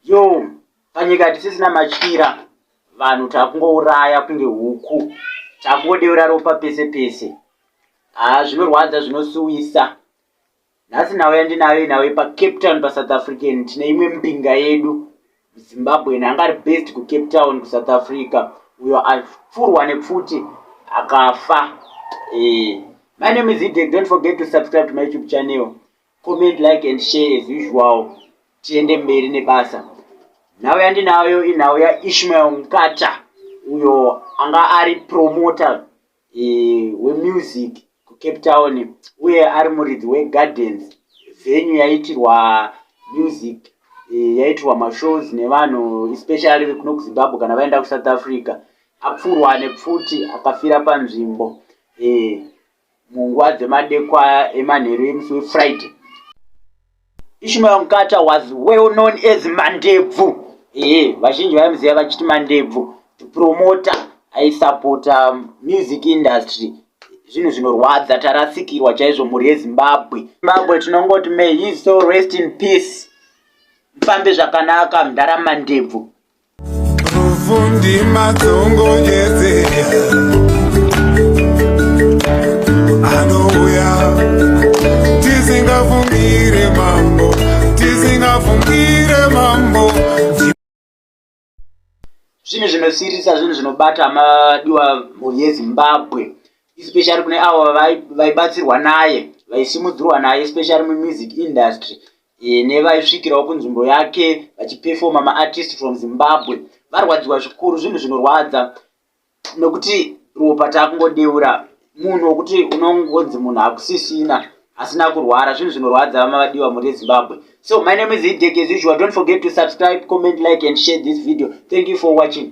yo panyika hatisisina matyira vanhu takungouraya kunge huku takungodeura ropa pese pese haa zvinorwadza zvinosuwisa nhasi nhau yandinayo inhau yepacape town pasouth african tine imwe mbinga yedu zimbabwen anga ari best kucape town kusouth africa uyo apfurwa nepfuti akafa eh, my name is idek don't forget to subscribe to my youtube channel Comment, like and share as usual. Tiende mberi nebasa. Nhau yandinayo inhau yaIshmael Mkata uyo anga ari promoter e, wemusic kuCape Town uye ari muridzi weGardens venue yaitirwa music e, yaitirwa mashows nevanhu especially vekuno kuZimbabwe kana vaenda kuSouth Africa apfurwa nepfuti akafira panzvimbo e, munguva dzemadekwa emanheru emusi wefriday ishmael mkata was well known as mandebvu ee vazhinji vaimuziva vachiti mandebvu promoter aisapota music industry zvinhu zvinorwadza tarasikirwa chaizvo mhuri yezimbabwe zimbabwe tinongoti may his soul rest in peace mfambe zvakanaka mdhara mandebvu zvinhu zvinosirisa zvinhu zvinobata madiwa mhuri yezimbabwe especially kune avo vaibatsirwa naye vaisimudzirwa naye especially mumusic industry e, nevaisvikirawo kunzvimbo yake vachipefoma maartist from zimbabwe varwadziwa zvikuru zvinhu zvinorwadza nokuti ropa taakungodeura munhu wokuti unongonzi munhu hakusisina asina kurwara zvinhu zvinorwadza vamavadiwa muri ezimbabwe so my name is hidek as usual don't forget to subscribe comment like and share this video thank you for watching